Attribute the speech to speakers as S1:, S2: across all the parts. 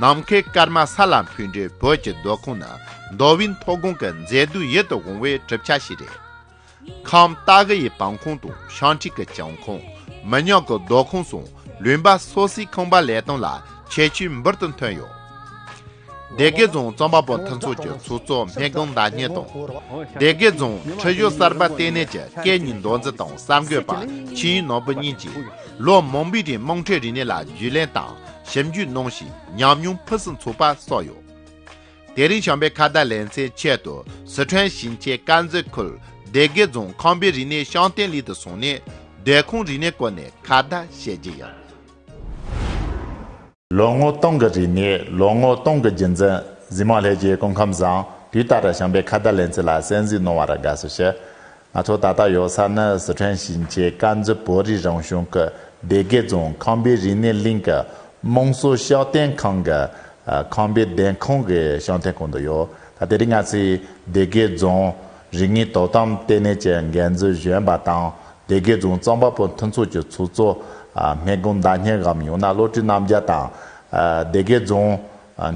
S1: ནམ་མཁའི་སྐར་མ་ས་ལ་འཕུལ་འདྲའི་བོད་ཀྱི་མདོ་ཁུངས་ནི་མདོ་དབུས་མཐོ་སྒང་གི་མཛེས་སྡུག་ཡིད་དུ་འོང་བའི་གྲུབ་ཆ་ཞིག་རེད། ཁམས་སྟག་དགུ་ཡི་བང་ཁུང་དང་ཤང་ཁྲི་གི་བྱང་ཁུང། མི་ཉག་གི་མདོ་ཁུངས་སུ་ལུས་འབའ་སོ་སོའི་ཁང་པ་ལས་སྟངས་ལ་ཁྱད་ཆོས་འབུར་དུ་ཐོན་ཡོད། སྡེ་དགེ་རྫོང་རྩོམ་པ་པོ་མཐུན་ཚོགས་ཀྱི་ཚོགས་གཙོ་སྨན་གང་ཟླ་སྙན་དང། སྡེ་དགེ་རྫོང་ཁྲི་བཞུགས་གསར་པ་ལྟེ་གནས་ཀྱི་སྐད་གཉིས་མདོ་འཛིན་དང་གསར་འགོད་པ་ཆིན་ཡུས་ནོར་བུ་གཉིས་ཀྱིས་ལོ་མང་པོའི་རིང་དམངས་ཁྲོད་རིག་གནས་ལ་རྒྱུས་ལེན་དང། ཞིབ་འཇུག་གནང་ཞིང་ཉམས་མྱོང་ཕུན་སུམ་ཚོགས་པ་སོགས་ཡོད། དེ་རིང་བྱམས་པའི་ཁ་བརྡ་ལེན་ཚེ་ཆེད་དུ་ཟི་ཁྲོན་ཞིང་ཆེན་དཀར་མཛེས་ཁུལ་སྡེ་དགེ་རྫོང་ཁང་པའི་རིག་གནས་ཤང་བརྟན་ལྷིང་དུ་སོང་ནས་སྡོད་ཁང་རིག་གནས་སྐོར་ནས་ཁ་བརྡ་བྱེད་ཀྱི་ཡོད།
S2: ལོ་ངོ་སྟོང་གི་རིག་གནས་ལོ་ངོ་སྟོང་གི་རྒྱུན་འཛིན་གཟིགས་མོ་ལྷས་ཀྱིས་སྐུ་ཁམས་བཟང་དུས་ལྟར་བྱམས་པའི་ཁ་བརྡ་ལེན་ཚུལ་ལ་གསན་གཟིགས་གནང་བར་དགའ་བསུ་ཞུ། ང་ཚོ་ད་ལྟ་ཡོད་ས་ནི་ཟི་ཁྲོན་ཞིང་ཆེན་དཀར་མཛེས་བོད་རིགས་རང་གཞུང་གི་སྡེ་དགེ་རྫོང་ཁང་པའི་རིག་གནས་གླིང་གི་དམངས་སྲོལ་ཤོག་ལྟེང་ཁང་གི་ཁང་པའི་སྡེ་ཁང་གི་ཤོག་ལྟེང་ཁང་དུ་ཡོད། ད་དེ་རིང་ང་ཚོས་སྡེ་དགེ་རྫོང་རིག་གནས་དོ་དམ་ལྟེ་གནས་ཀྱི་འགན་འཛིན་གཞོན་པ་དང་སྡེ་དགེ་རྫོང་རྩོམ་པ་པོ་མཐུན་ཚོགས་ཀྱི་ཚོགས་གཙོ་སྨན་སྐུ་མདའ་སྙན་ངག་ཡང་ན་བློ་གྲོས་རྣམ་རྒྱལ་དང། སྡེ་དགེ་རྫོང་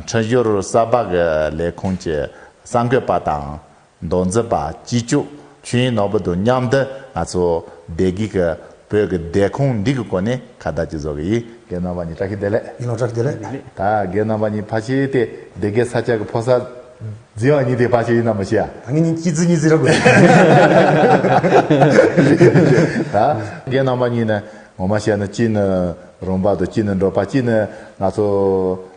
S2: འཕྲིན་ཞོར་གསར་པ་གི་ལས་ཁུངས་ཀྱི་གསར་འགོད་པ་དང། མདོ་འཛིན་པ་སྤྱི་སྤྱོད་ཆོས་དབྱིངས་ནོར་བུ་དང་མཉམ་དུ་ང་ཚོ་བདེ་སྐྱིད་ཀྱི་བོད་ཀྱི་བདེ་ཁུངས་འདི་གི་སྐོར་ནས་ཁ་བརྡ་ཅིག་བཟོ་གི་ཡིན། རྒན་རྣམ་པ་གཉིས་བཀྲ་ཤིས་བདེ་ལེགས། ཡིན་ནོ་བཀྲ་ཤིས་བདེ་ལེགས། ད་
S3: རྒན་རྣམ་པ་
S2: གཉིས་ཕ་ཤེས་ཏེ་སྡེ་དགེ་ས་སྐྱ་གི་ཕོ་གསར། འཛིན་བ་གཉིས་དེ་ཕ་ཤེས་ཡིན་ནམ་མི་ཤེས་ཨ། ད་ངེད་གཉིས་སྐྱིད་རྫི་གཉིས་རྫི་ར་
S3: དགོས།
S2: ད་རྒན་རྣམ་པ་གཉིས་ནི་ངོ་མ་བཤད་ན་གཅིག་ནི་རུམ་པ་དང་གཅིག་ནི་འབྲོག་པ་གཅིག་ནི་ང་ཚོ།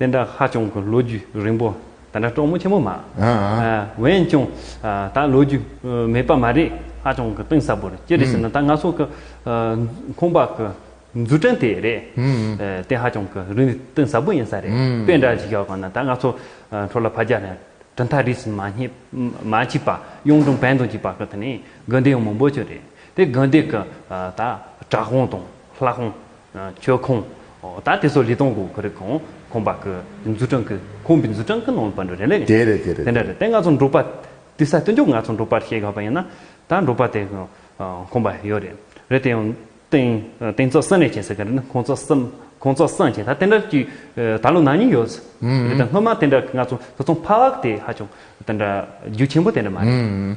S4: དེ་འདྲ་ཧ་ཅང་གི་ལོ་རྒྱུས་རིང་པོ་དེ་འདྲ་གྲོགས་མོ་ཆེན་མོ་མ་འོན་ཀྱང་ད་ལོ་རྒྱུས་མེད་པ་མ་རེད་ཧ་ཅང་གི་གཏིང་ཟབ་པོ་རེད་ཅི་རེད་ཟེར་ན་ད་ང་ཚོ་གི་ཁོང་པ་གི་འཛུགས་སྐྲན་དེ་རེད་དེ་ཧ་ཅང་གི་རིག་ནུས་གཏིང་ཟབ་པོ་ཡིན་ས་རེད་དཔེ་འདྲ་ཞིག་ཡོད་གང་ན་ད་ང་ཚོ་འཕྲོ་ལ་ཕ་རྒྱ་ནས་གྲི་མཐའ་རིས་མ་བྱས་པ་གཡུང་དྲུང་བན་དུ་འཇིགས་པ་གི་དེ་ནས་དགོན་སྡེ་ཡང་མང་པོ་ཆེ་རེད་དེ་དགོན་སྡེ་གི་ད་བྲག་ཧོང་དང་ལྷ་ཧོང། ཁྱོད་ཁོང་ད་དེ་སོགས་ལི་ཏོང་གོ་གི་རིགས་ཁོང་ཁོང་པ་གི་འཛུ་ཀྲང་གི་ཁོང་པའི་འཛུ་ཀྲང་གི་ནང་པ་འདྲ་རེད་ལེ། དེ་རེད་དེ་རེད་དེ་འདྲ་རེད་དེ་
S2: ང་ཚོ་འབྲོག་
S4: པ་དེ་ས་སྟོན་རྒྱུ་ང་ཚོ་འབྲོག་པར་ཤེས་དགའ་བ་ཡིན་ན་ད་འབྲོག་པ་དེ་ཁོང་པ་ཡོད་རེད་རེད་དེ་ཡང་དེང་དེང་ཚོགས་གསང་ལས་བྱེད་ཟེར་གི་རེད་ན་ཁོང་ཚོགས་གསང་ཁོང་ཚོགས་གསང་བྱེད་ད་དེ་འདྲ་ཀྱི་ད་ལོ་ནང་ཉིན་ཡོད་ཟེར་རེད་དེ་སྔོན་མ་དེ་འདྲ་ང་ཚོ་ཚོགས་གསང་ཕ་ཝག་དེ་ཧ་ཅང་དེ་འདྲ་རྒྱུ་ཆེན་པོ་དེ་འདྲ་མ་རེད།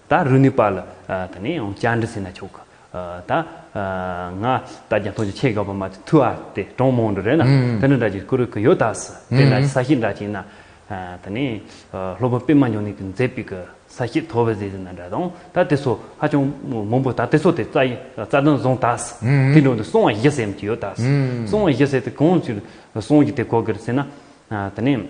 S4: ད་རུ་ནི་པཱ་ལ་ད་ནི་ཡང་བཅར་འདྲི་སེ་ན་ཆོག་གི། ད་ང་ད་རྒྱ་ཐོག་ཅིག་ཆེ་ག་པ་མ་ཐུ་ཨ་ཏེ་གྲོང་མོང་འདྲུ་རེད་ན་ད་ནི་འདྲ་ཅིག་ཀུ་རུ་ཀུ་ཡོ་ད་སི་དེ་ན་ས་ཤི་འདྲ་ཅིག་ན་ད་ནི་ལྷོ་པོ་པི་མ་ཉོ་ནི་ཀི་མཛེ་པི་ཀི་ས་ཤི་ཐོ་བི་ཟི་ཟི་ན་འདྲ་དང་ད་དེ་སོ་ཧ་ཅང་མོང་པོ་ད་དེ་སོ་དེ་རྩ་རྩ་དོན་བཟང་ད་སི་དེ་འདྲོ་འདི་སོང་བ་ཞི་སེམས་ཀི་ཡོ་ད་སི་སོང་བ་ཞི་སེ་དེ་གང་ཅིག་སོང་ཀི་དེ་གོ་ཀི་རི་སེ་ན་ད་ནི།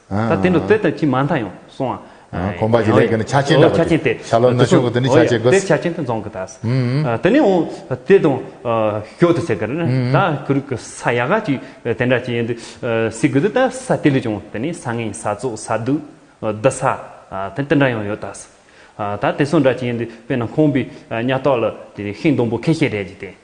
S4: ད་དེ་འདྲ་བཙལ་དང་ཅི་མ་མཐའ་ཡང་སོང་ཨ། གོམ་པ་ཇི་ལེགས་
S2: ཀྱི་ནི་ཆ་ཆེན་འདྲ་བ་དེ། ཤ་ལོ་ན་ཤོ་
S4: ཀི་དེ་ནི་ཆ་
S2: ཆེ་གི། དེ་ཆ་ཆེན་དུ་འཛོང་གི་དཱས།
S4: དེ་ནས་འོང་དེ་དང་ཞོ་དུ་ཟེར་གི་རེད། ད་གུ་རུག་གི་ས་ཡ་ག་ཅིག་དེ་འདྲ་ཅིག་ཡིན་དུ་སྲིད་གི་འདུག་ད་ས་དེ་ལས་ཀྱང་དེ་ནི་ས་ངན་ས་བཙོག་ས་དུག་བདུད་ས་དེ་དེ་འདྲ་ཡང་ཡོད་དཱས། ད་དེ་སོགས་འདྲ་ཅིག་ཡིན་དུ་དཔེར་ན་ཁོང་པའི་གཉའ་ལྟག་ལ་དེ་ཤིང་སྡོང་པོ་ཁེ་ཤེས་རེད་ཅིག་དེ།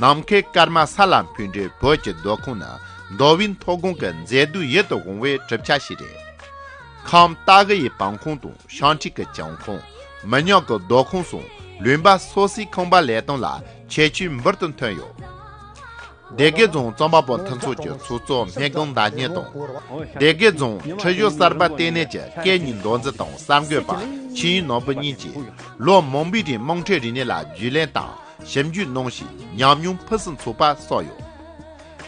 S1: ནམ་མཁའི་སྐར་མ་ས་ལ་འཕུལ་འདྲའི་བོད་ཀྱི་མདོ་ཁུངས་ནི་མདོ་དབུས་མཐོ་སྒང་གི་མཛེས་སྡུག་ཡིད་དུ་འོང་བའི་གྲུབ་ཆ་ཞིག་རེད། ཁམས་སྟག་གི་ཡི་བང་ཁོངས་དང་ཤང་ཁྲི་གི་བྱང་ཁོངས། མི་ཉག་གི་མདོ་ཁོངས་སོགས་ལུང་པ་སོ་སོའི་ཁང་པ་ལས་སྟངས་ལ་ཁྱད་ཆོས་འབུར་དུ་ཐོན་ཡོད། སྡེ་དགེ་རྫོང་རྩོམ་པ་པོ་མཐུན་ཚོགས་ཀྱི་ཚོགས་གཙོ་སྨན་སྒང་ཟླ་སྙན་དང། སྡེ་དགེ་རྫོང་ཁྲི་བཞུགས་གསར་པ་ལྟེ་གནས་ཀྱི་སྐད་གཉིས་མདོ་འཛིན་དང་གསར་འགོད་པ་ཆིན་ཡུས་ནོར་བུ་གཉིས་ཀྱིས་ལོ་མང་པོའི་རིང་དམངས་ཁྲོད་རིག་གནས་ལ་རྒྱུས་ལེན་དང། ཞིབ་འཇུག་གནང་ཞིང་ཉམས་མྱོང་ཕུན་སུམ་ཚོགས་པ་སོགས་ཡོད།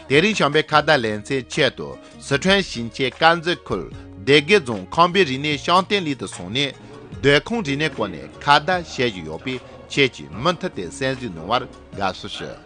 S1: དེ་རིང་བྱམས་པའི་ཁ་བརྡ་ལེན་ཚེ་ཆེད་དུ་ཟི་ཁྲོན་ཞིང་ཆེན་དཀར་མཛེས་ཁུལ་སྡེ་དགེ་རྫོང་ཁང་པའི་རིག་གནས་ཤང་བརྟན་གླིང་དུ་སོང་ནས་སྡོད་ཁང་རིག་གནས་སྐོར་ནས་ཁ་བརྡ་བྱེད་བཞིན་ཡོད་པས་ཁྱེད་ཀྱིས་མུ་མཐུད་དེ་གསན་གཟིགས་གནང་བར་དགའ་བསུ་ཞུ།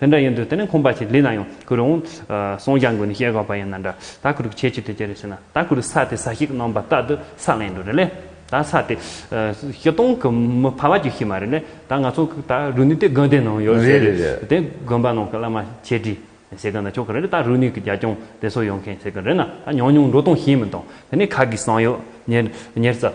S4: དེ་འདྲ་ཡིན་དུས་དེ་ནི་ཁོམ་པ་ཞིག་ལི་ན་ཡང་ཁུ་རུང། སོང་བྱ་འགོས་ནས་བཤད་དགོས་པ་ཡིན་ན་འདྲ། ད་ཁུ་རུག་ཁྱེད་ཀྱིས་དེ་ཅི་རེད་ཟེར་ན་ད་ཁུ་རུག་ས་དེ་ས་ཞིག་ནང་པ་ལྟ་དུ་ས་ལེན་འགྲོ་རེད་ལེ། ད་ས་དེ། བཞི་སྟོང་གི་མི་ཕ་བ་རྒྱུ་ཞིག་མ་རེད་ལེ། ད་ང་ཚོ་ད་རུ་ནི་དེ་དགོན་དེ་ནང་ཡོད་ཟེར་རེད། དེ་དགོན་པ་ནང་གི་བླ་མ་ཁྱེད་ཀྱིས་བྱེད་གི་ན་ཆོག་གི་རེད་ད་རུ་ནི་གི་རྒྱ་སྐྱོང་དེ་ཚོ་ཡོང་མཁན་བྱེད་གི་རེད་ན་ད་ཉོག་ཉོག་འགྲོ་སྟངས་ཤེས་མི་འདུག་དེ་ནི་ཁ་གིས་གསང་ཡོད། ཉེར་གསལ།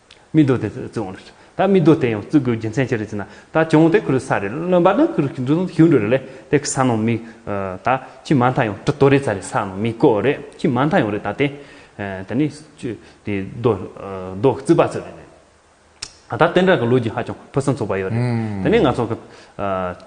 S4: མི་རྡོ་དེ་བཙུགས་འོང་རེད། ད་མི་རྡོ་དེ་ཡང་བཙུགས་དགོས་རྒྱུ་མཚན་ཅི་རེད་ཅེ་ན། ད་བྱུང་དེ་ཁུལ་ས་རེད་རློན་པ་ནི་ཁུལ་འདུ་ཞིག་འགྲོ་རེད་ལས་དེ་གི་ས་ནང་མི། ད་ཁྱི་མ་མཐའ་ཡང་གྲི་ཏོ་རེ་ཚ་རེད་ས་ནང་མི་བཀོད་རེད་ཁྱི་མ་མཐའ་ཡང་རེད་ད་དེ། དེ་ནི་ཆུ་དེ་རྡོ་རྡོ་བཙུགས་པ་ཚོ་རེད། ད་དེ་འདྲ་གི་ལོ་རྒྱུས་ཧ་ཅང་ཕུན་སུམ་ཚོགས་པ་ཡོད་རེད་དེ་ནི་ང་ཚོ་གི།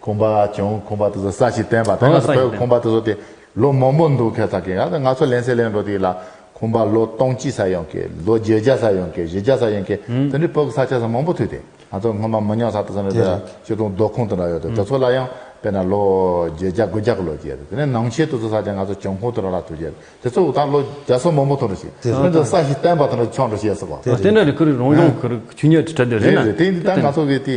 S2: ཁོང་པ་བྱུང་ཁོང་པ་དེ་ཚོ་ས་ཞིག་བསྟན་པ་དེ་སྔ་སོ་བོད་ཁོང་པ་དེ་ཚོ་དེ་ལོ་མང་པོ་འདུག་ཁེ་ཚ་ཁེ་ཡང་ང་ཚོ་ལན་ཚེ་ལན་འགྲོ་དེ་ལ་ཁོང་པ་ལོ་སྟོང་གཅིག་ས་ཡོང་ཁེ་ལོ་བརྒྱད་བརྒྱ་ས་ཡོང་ཁེ་བཞི་བརྒྱ་ས་ཡོང་ཁེ་དེ་འདྲའི་བོད་ཀྱི་ས་ཆ་ས་མང་པོ་ཐུག་དེ་ང་ཚོ་སྔོན་མ་མི་ཉག་ས་དེ་ཚོ་ནས་དེ་སྤྱི་སྟོང་རྡོ་ཁུང་དེ་འདྲ་ཡོད་དེ་དེ་ཚོ་ལ་ཡང་དཔེར་ན་ལོ་བརྒྱད་བརྒྱ་དགུ་བརྒྱ་གི་ལོ་བརྒྱད་དེ་ནས་ནང་ཆེན་དེ་ཚོ་ས་ཆ་ང་ཚོ་བྱང་ཁུང་དེ་འདྲ་ལ་ཐུག་རྗེས་དེ་ཚོ་ད་ལོ་བརྒྱ་སོ་མང་པོ་ཐུག་འགྲོ་ཞིག་དེ་ཚོ་ས་ཞིག་བསྟན་པ་དེ་འདྲ་ཆོག་འགྲོ་ཞེས་སོ་བ། དེ་འདྲ་རེད་ཁུ་རི་རང་བྱུང་
S4: ཁུ་རི་ཆུ་ཉོས་དེ་འདྲ་རེད་ན། རེད་རེད་དེ་འདི་ད་ང་ཚོ་གི་དེ་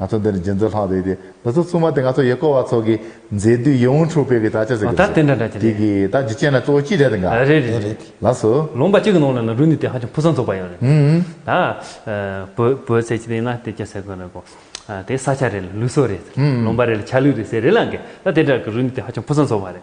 S2: ང་ཚོ་འདིར་འབྱེད་འཛོལ་ལྷག་དུས་ཏེ་འདི་ཚོ་ཚུལ་མ་དེ་ང་ཚོ་ཡེ་ཀོ་བ་ཚོ་གི་མཛེས་དུས་ཡིད་འོང་འཁྲུགས་སྤེལ་གྱི་དག་ཆ་ཟེར་གྱི་འདུག་ཟེར་དེ་གི་དག་ཇི་སྤྱད་ན་གཙོ་བོ་གཅིག་རེད་འགའ་རེད་རེད་རེད་ལགས་སོ། ལུང་པ་གཅིག་གི་ནང་ལ་ན་
S4: རུ་ནི་དེ་ཧ་ཅང་ཕུགས་བསམ་འཛུགས་པ་ཡང་རེད་ད། བོད་བོད་ཟེར་གྱི་དེ་ན་དེ་ཅི་ཟེར་དགོས་ན་གོ། དེ་ས་ཆ་རེད་ལུགས་སྲོལ་རེད་ལུང་པ་རེད་ལ་ཆ་ལུགས་རེད་ཟེར་རེད་ལ་འགས་ད་དེ་འདྲ་གི་རུ་ནི་དེ་ཧ་ཅང་ཕུགས་བསམ་འཛུགས་པ་རེད།